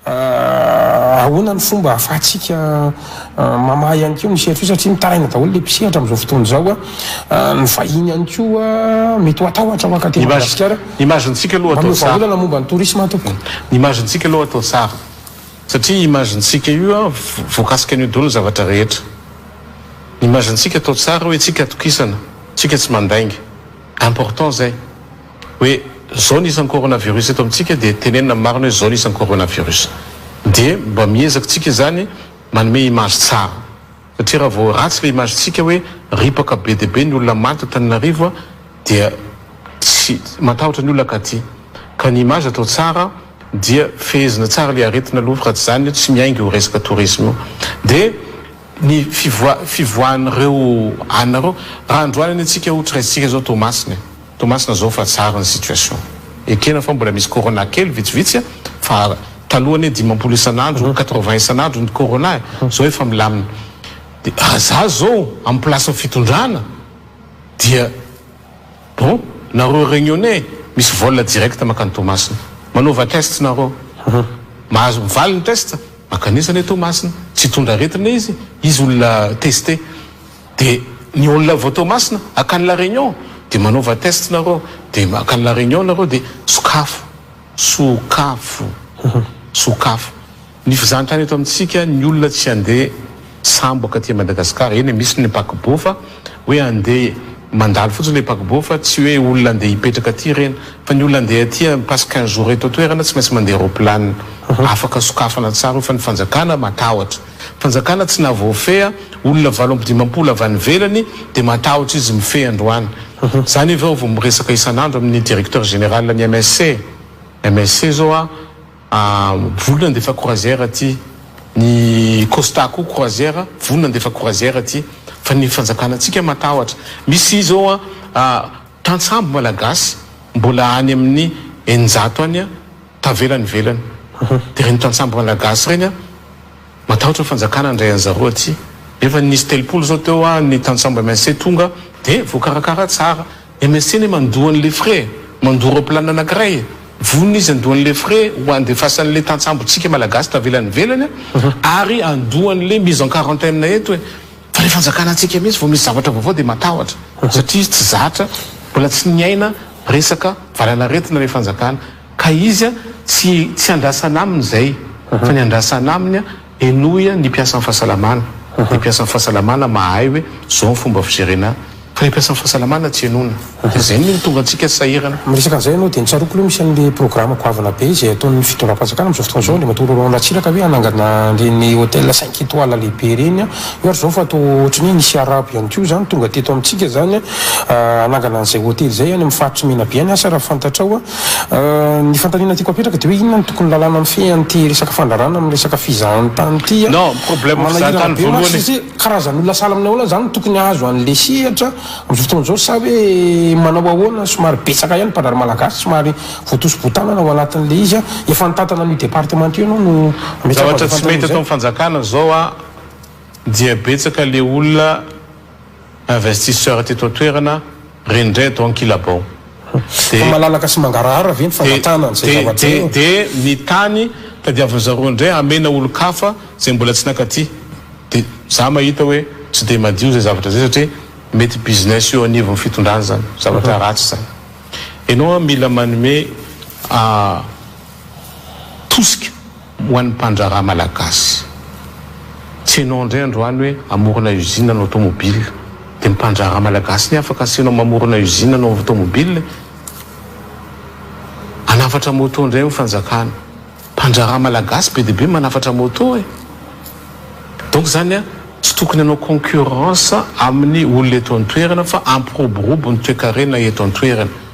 Ahoana no fomba ahafahantsika mamaha ihany koa ny sehatry ny satria mitaraina daholo ilay mpisehatra amin'izao fotoana izao an. Ny vahiny ihany koa mety ho hatahotra maka aty Madagasikara. Ny image-ntsika aloha atao tsara. Manome vahaolana momba ny tourisme aho tompoko. Ny image-ntsika aloha atao tsara satria image-ntsika io an voakasika an'io daholo ny zavatra rehetra. Ny image-ntsika atao tsara hoe tsika atokisana, tsika tsy mandainga. Important zay hoe zao ny isan'ny coronavirus eto amintsika dia tenenina amin'ny marina hoe zao ny isan'ny coronavirus dia mba miezaka tsika izany manome image tsara satria raha vao ratsy ilay image tsika hoe ripaka be dia be ny olona maty tao Tananarivo a dia tsy matahotra ny olona katy ka ny image atao tsara dia fehezina tsara ilay aretina aloha fa raha tsy izany tsy miainga io resaka tourisme io dia ny fivoahan'ireo anareo raha androany anie tsika ho traitsika zao toamasina e toamasina zao fa tsara ny situation ekena fa mbola misy corona kely vitsivitsy a fa taloha anie dimampolo isan'andro quatre vingt isan'andro ny corona e zao efa milamina de raha za zao am plasin'ny fitondrana dia Bon, nareo reunionnais misy vol direct makany Toamasina. Manaova test nareo. Mahazo mivaly ny test, mankanesa anie Toamasina. Tsy hitondra aretina izy, izy olona tester. De ny olona avy ao Toamasina akany la Réunion de manaova test nareo. De makany la Réunion nareo de sokafo. Sokafo. Sokafo. Ny fizahantany eto amintsika ny olona tsy handeha sambo akaty a Madagascar eny e misy ny paquebot fa hoe handeha mandalo fotsiny le paquebot fa tsy hoe olona handeha hipetraka aty ireny fa ny olona handeha aty a passe quinze jours eto an-toerana tsy maintsy mandeha roplanina afaka sokafana tsara io fa ny fanjakana matahotra fanjakana tsy nahavoafehy a olona valo amby dimampolo avy any ivelany dia matahotra izy mifehy androany zany avy ao vao miresaka isan'andro amin'ny directeur général ny MSC MSC zao a Voly nandefa croisière aty, ny Costa koa croisière, voly nandefa croisière aty, fa ny fanjakana antsika matahotra. Misy izao an, tantsambo malagasy mbola any amin'ny eninjato any tavela any ivelany. Dia ireny tantsambo malagasy ireny an, matahotra ny fanjakana handray an'i zareo aty. Nefa nisy telopolo izao teo an, ny tantsambo MSC tonga dia voakarakara tsara. MSN mandoa an'le frais, mandoa roplan anakiray e! Vonona izy andoa an'le frais ho andefasan'le tantsambontsika malagasy tavela any ivelany a! Ary andoa an'le mise en quarantaine eto e! Fa le fanjakana antsika mintsy vao misy zavatra vaovao de matahotra! Satria izy tsy zatra, mbola tsy niaina resaka valanaretina le fanjakana ka izy a! Tsy tsy andrasana aminy zay fa ny andrasana aminy a! Henoy ny mpiasan'ny fahasalamana, ny mpiasan'ny fahasalamana mahay hoe zao ny fomba fijerena fa ny mpiasan'ny fahasalamana tsy henoina dia zay no tonga antsika sahirana. Miresaka an'izay ianao dia ny tsaroako aloha misy an'ilay programa goavana be izay ataon'ny fitondram-panjakana amin'izao fotoana izao, Andriamatoa Laurent Ratsiraka hoe hanangana an'ireny hôtel cinq étoiles lehibe ireny an, io ary izao fa toa ohatry ny hoe nisy arabo ihany koa izany tonga teto amintsika izany an, hanangana an'izay hôtely izay any amin'ny faritr'i Menabe any asa raha fantatrao an. Ny fanontaniana tiako apetraka dia hoe inona no tokony lalàna mifehy an'ity resaka fandrarana amin'ny resaka fizahantany ity an? Non, problème fizahantany voalohany e! Manahirana be mantsy satria karazan'olona sahala aminay ahoana izany no tokony hahazo an'ilay sehatra amin'izao fotoana izao sa hoe manao ahoana? Somary betsaka ihany ny mpandrary malagasy somary voatosi-botanana ao anatin'ilay izy an! Efa nitantana an'io departemanta io ianao no ametrahako an'izay fanontaniana izay? Zavatra tsy mety atao ny fanjakana izao an, dia betsaka ilay olona investisseur teto an-toerana rendreto ankilabao dia Fa malalaka sy mangarahara ve ny fangatahana an'izay zavatra io? Dia ny tany tadiavin'ny zareo indray hamena olon-kafa izay mbola tsy nankaty dia za mahita hoe tsy dia madio izay zavatra izay satria mety business eo anivon'ny fitondrana izany zavatra ratsy izany ianao mila manome tosika Ho an'ny mpandraharaha malagasy, tsy ianao indray androany hoe hamorona usine hanao tomobile, dia ny mpandraharaha malagasy anie afaka asianao mamorona usine hanao tomobile e! Hanafatra moto indray ny fanjakana, mpandraharaha malagasy be dia be manafatra moto e! Donc izany a, tsy tokony hanao concurrence amin'ny olona eto an-toerana fa hampiroborobo ny toekarena eto an-toerana.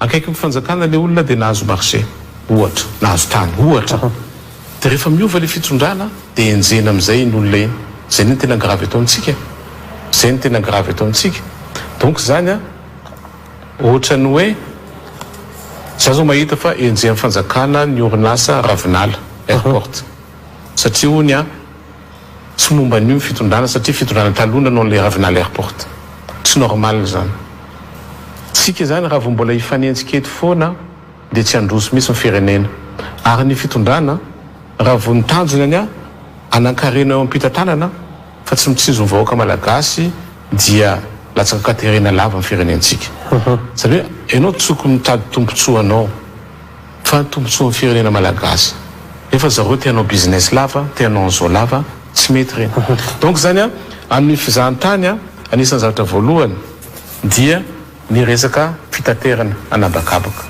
Akaikin'ny fanjakana ilay olona dia nahazo marché ohatra, nahazo tany ohatra, dia rehefa miova ilay fitondrana dia enjehina amin'izay iny olona iny. Izay anie no tena gravy eto amintsika e! Izay no tena gravy eto amintsika. Donc izany ohatran'ny hoe izaho izao mahita fa enjehin'ny fanjakana ny orinasa Ravinala Airport satria hono Tsy momba an'io ny fitondrana satria fitondrana taloha nanao an'ilay Ravinala Airport. Tsy normal izany. Tsika izany raha vao mbola hifanenjika eto foana dia tsy handroso mihitsy ny firenena. Ary ny fitondrana raha vao ny tanjona ny hanankarena eo am-pitantanana fa tsy mitsinjo ny vahoaka malagasy dia latsaka katerena lava ny firenentsika. Izany hoe ianao tsoky mitady tombontsoa anao. Fa ny tombotsoan'ny firenena malagasy. Nefa zareo te hanao business lava, te hanao an'izao lava, tsy mety reny. Donc zany an, amin'ny fizahantany an, anisan'ny zavatra voalohany dia ny resaka fitaterana an'habakabaka.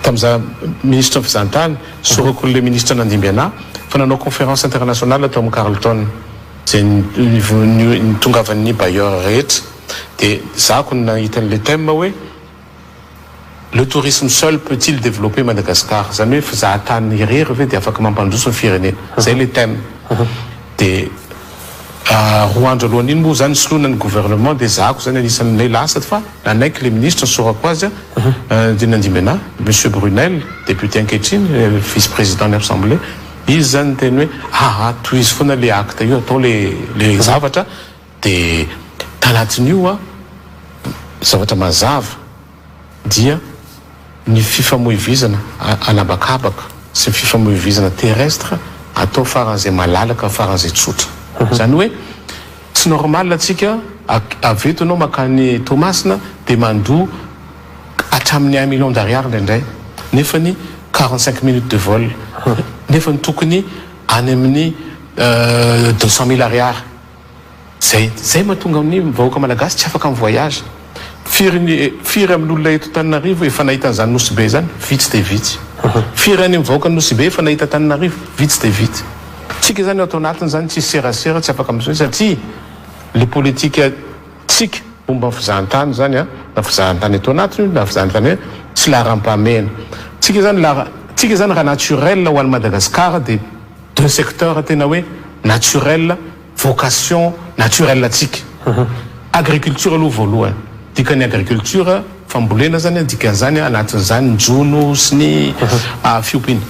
Tamin'ny za ministra ny fizahantany, sorako an'ilay ministra nandimby anà, fa nanao conférence internationale tao amin'ny Carlton, izay nivo- ni- nitongavan'ny bailleurs rehetra, dia zahako ny nahita an'ilay thème hoe, Le tourisme seul peut-il developper Madagascar? Zany hoe fizahatany irery ve dia afaka mampandroso ny firenena? Zay le thème. Dia roa andro alohan' iny moa zany ny soloina ny gouvernement dia zahako zany anisan' ilay lasa fa nanaiky le ministra nisorako azy dimy na dimy ena, Monsieur Brunelle, député ankehitriny, vice président ny Assemblée, izy zany niteny hoe aa tohizo foana le acte io atao le le zavatra, Dia talatsin'io an, zavatra mazava dia ny fifamoivoizana an'habakabaka sy ny fifamoivoizana terrestre atao faran'izay malalaka, faran'izay tsotra. Izany hoe tsy normal antsika avy eto ianao mankany Toamasina dia mandoa hatramin'ny un million d'ariary indraindray nefany quarante cinq minutes de vol nefany tokony any amin'ny deux cent mille ariary. Zay zay mahatonga ny vahoaka malagasy tsy afaka mi voyage. Firy ny firy amin' ny olona eto Antananarivo efa nahita an'izany Nosy Be izany? Vitsy dia vitsy. Firy any amin'ny vahoakan'i Nosy Be efa nahita Antananarivo? Vitsy dia vitsy. Tsika izany ao ato anatiny izany tsisy serasera tsy afaka mi satria le politika tsika momba ny fizahantany izany an, na fizahantany eto anatiny io na fizahantany hoe tsy laharam-pahamehana. Tsika izany lahara tsika izany raha naturel ho an'i Madagasikara dia. deux secteurs tena hoe naturel, vocation naturel antsika. Agriculture aloha voalohany, dikan'ny agriculture fambolena zany an, dikan'izany anatin'izany ny jono sy ny fiompiana.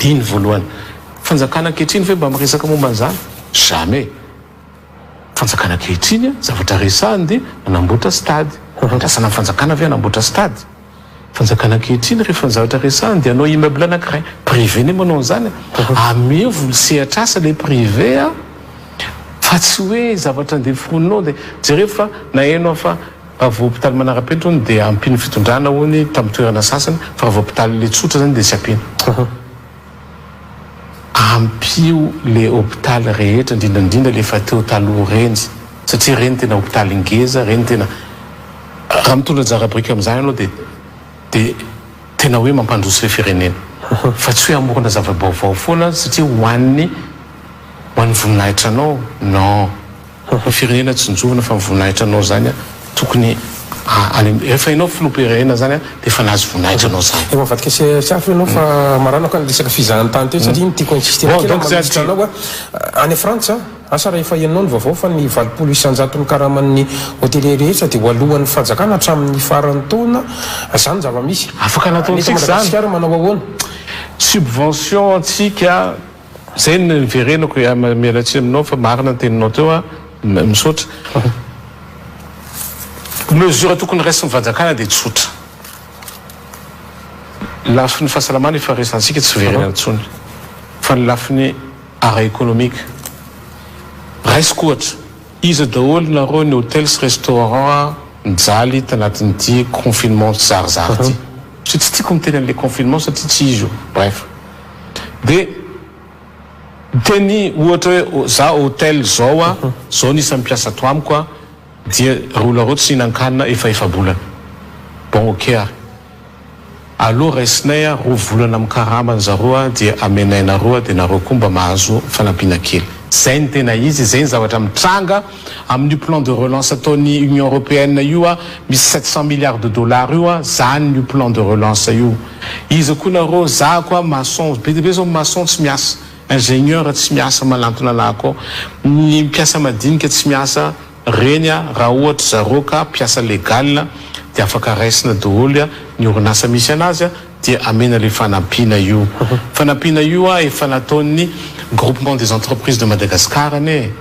Iny ny voalohany. Fanjakana ankehitriny ve mba miresaka momba an'izany? Jamais. Fanjakana ankehitriny an, zavatra resahiny dia manamboatra stade. Andrasana ny fanjakana ve hanamboatra stade? Fanjakana ankehitriny rehefa ny zavatra resahiny dia hanao immeuble anankiray. Privé anie manao an'izany e. Ameo voly sehatr'asa ilay privé a, fa tsy hoe zavatra andeha foronina ao dia jereo fa naheno aho fa raha vao hopitaly manara-penitra hono dia ampian'ny fitondrana hono tamin'ny toerana sasany fa raha vao hopitaly ilay tsotra izany dia tsy ampiana. ampio le hopitaly rehetra indrindra indrindra le efa teo taloha reny satria reny tena hopitaly ngeza reny tena raha mitondra anjara biriky amizany anao de de tena hoe mampandroso le firenena fa tsy hoe amorona zava-baovao foana satria ho an'ny ho an'ny voninahitranao non Ho ho firenena tsinjovina fa voninahitra anao zany a tokony any rehefa enao filoha pirenena zany a de efa nahazo voninahitra anao zany. Efa avadika sy hafa ianao fa maranako ny resaka fizahantany teo satria ny tiako insister kely manolotra anao a any frantsa asa raha efa henonao ny vaovao fa ny valopolo isanjato ny karaman'ny hotelier rehetra de ho alohan'ny fanjakana hatramin'ny faran'ny taona zany zava-misy Afaka nataontsika zany. Nefa madagasikara manao ahoana? Subvention antsika. Zay no niverenako e, miala tsiny aminao fa marina ny teninao teo an, misaotra. Mesure tokony raisin'ny fanjakana dia tsotra, lafiny fahasalamana efa resantsika tsy verena intsony fa ny lafiny ara economique raisiko ohatra, iza daholo nareo ny hotels restaurants mijaly tanatin'ity confinement zarizary ity, satria tsy tiako miteny an'ilay confinement satria tsy izy io, bref. dia miteny ohatra hoe za hotel zao a zao ny isan'ny mpiasa ato amiko a dia rola roa tsy hihinan-kanina efa efa-bolana bon ok ary aleo raisinay a roa volana amin'ny karama ny zareo a dia amenay nareo a dia nareo koa mba mahazo fanampiana kely zay ny tena izy zay ny zavatra mitranga Amin'io plan de relance ataon'ny Union Européenne io a, misy sept cent milliards de dollars io a, zany io plan de relance io. Iza koa nareo, za ko a maçon, be dia be zao maçon tsy miasa, ingénieur tsy miasa manantona lahy ko, ny mpiasa madinika tsy miasa, reny a raha ohatra zareo ka mpiasa legal dia afaka raisina doholy a, ny orinasa misy anazy a, dia amena le fanampiana io. Fanampiana io a efa nataon'ny Groupement des entreprises de Madagascar anie e.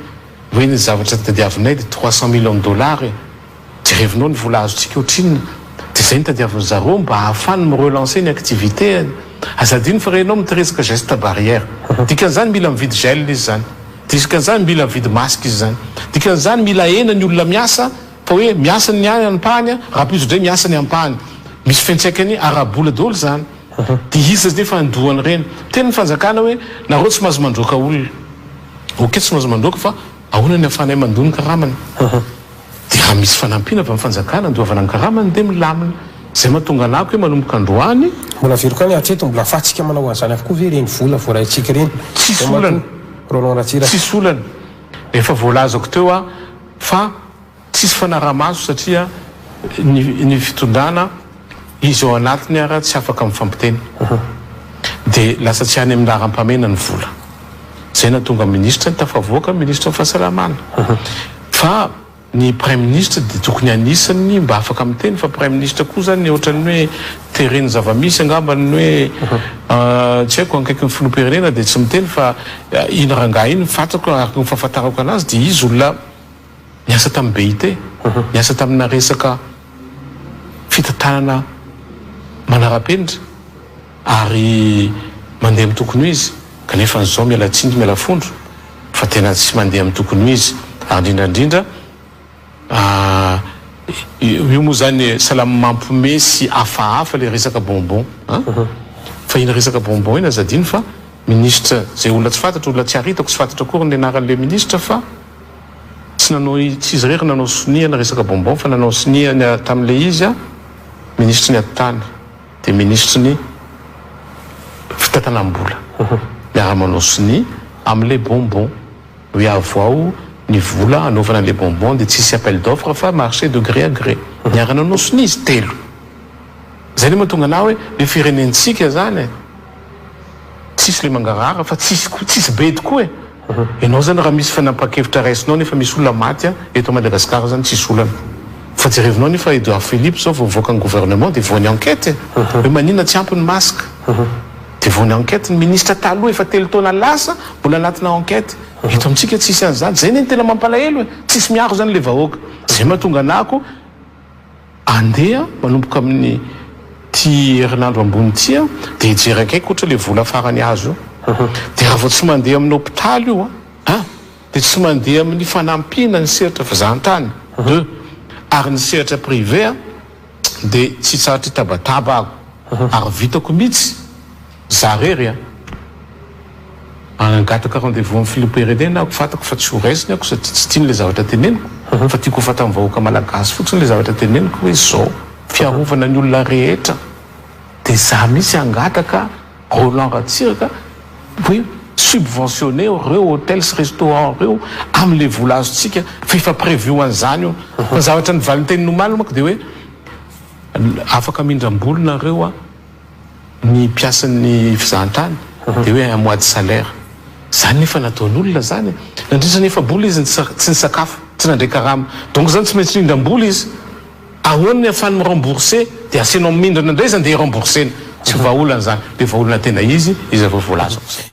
Hoe ny zavatra tadiavinay dia trois cent millions dollars e! Jerevinao ny vola azontsika otrinona? Dia izay no tadiavin'ny zareo mba ahafany mi relancer ny activités-ny. Aza adino fa renao miteresaka geste barrière. Dikan'izany mila mividy gel izy izany. Dikan'izany mila mividy masque izy izany. Dikan'izany mila ahena ny olona miasa fa hoe miasa ny ampahany raha plus dray miasa ny ampahany. Misy fiantraikany ara-bola daholo izany. Dia iza zde fa andoha an'ireny. Teny ny fanjakana hoe nareo tsy mahazo mandroaka olona. Ok tsy mahazo mandroaka fa ahoana ny afahanay mandoa ny karamany. Dia raha misy fanampiana avy amin'ny fanjakana andoavana ny karamany dia milamina. Izay mahatonga an'ako hoe manomboka androany. Mbola very koa ny hatreto, mbola afahantsika manao an'izany avokoa ve ireny vola voaraintsika ireny? Tsisy olana, Roland Ratsiraka. Tsisy olana. Efa voalazako teo aho fa. Tsisy fanarahamaso satria ny ny fitondrana izy ao anatiny ara tsy afaka mifampiteny de lasa tsy any amin'ny laharam-pahamehana ny vola zay nahatonga ministra ny tafavoaka ministra ny fahasalamana fa ny praiminisitra de tokony anisany mba afaka miteny fa praiminisitra koa zany ohatran'ny hoe teren'ny zavamisy angamba ny hoe tsy haiko ankaikin'ny filoham-pirenena de tsy miteny fa iny rangahy iny fatrako araka ny fahafantarako anazy de izy olona niasa tamin'ny BIT, niasa tamina resaka fitantanana manara-penitra ary mandeha amin'ny tokony ho izy kanefa izao miala tsiny miala fondro fa tena tsy mandeha amin'ny tokony ho izy ary indrindra indrindra ah, io moa izany salama mampome sy hafahafa ilay resaka bonbon an, fa iny resaka bonbon iny aza adino fa minisitra izay olona tsy fantatro, olona tsy haritako, tsy fantatro akory ny anaran'ilay minisitra fa. Tsy nanao tsy izy irery nanao sonia ny resaka bonbon fa nanao sonia ny tamin'ilay izy a minisitry ny atitany dia minisitry ny fitantanam-bola miara manao sonia amin'ilay bonbon hoe avoaho ny vola hanaovana ilay bonbon dia tsy hisy appel d'offre fa marché de gré à gré niara nanao sonia izy telo izay no mahatonga anah hoe ilay firenentsika izany e. Tsisy le mangarahara fa tsisy koa tsisy bedy koa e! Enao zany raha misy fanapahan-kevitra raisinao nefa misy olona maty an! Eto Madagascar zany tsisy olana fa jerevinao nefa Edouard Philippe zao vao mivoaka ny gouvernement de voany enquête e! Hoe manina tsy ampy ny masque de voany enquête ny ministre taloha efa telo taona lasa mbola anatina enquête! Eto amintsika tsisy an'zany zay ne ny tena mampalahelo e! Tsisy miaro zany le vahoaka! Zay mahatonga anako Andeha manomboka amin'ny ty herinandro ambony ty a, de hijery akaiky ohatra le vola farany azo io, de raha vao tsy mandeha amin'ny hopitaly io a, un de tsy mandeha amin'ny fanampiana ny sehatra fizahantany, deux ary ny sehatra privé a, de tsy tsaritry tabataba aho ary vitako mitsy. Za rery a! Manangataka rendez-vous amin'ny filoham-pirenena aho, fantako fa tsy ho raisiny aho sady tsy tiany ilay zavatra teneniko, fa tiako ho fantan'ny vahoaka malagasy fotsiny ilay zavatra teneniko hoe izao, fiarovana ny olona rehetra, dia za mihitsy hangataka Roland Ratsiraka hoe subventionner ireo hôtel sy restaurant ireo amin'ilay vola azontsika fa efa prévu ho an'izany io, fa ny zavatra ny valintenin'omaly manko dia hoe afaka mindram-bola nareo a! Ny mpiasan'ny fizahantany dia hoe un mois de salaire. Izany nefa nataon'olona izany e! Nandritra ny efa-bola izy tsy nisakafo, tsy nandray karama. Donc izany tsy maintsy nindram-bola izy. Ahoana ny ahafahany mi-rembourser? Dia asianao mindrana indray izany dia i-rembourser-na. Tsy ho vahaolana izany. Be vahaolana tena izy, izy ireo voalaza ho izay.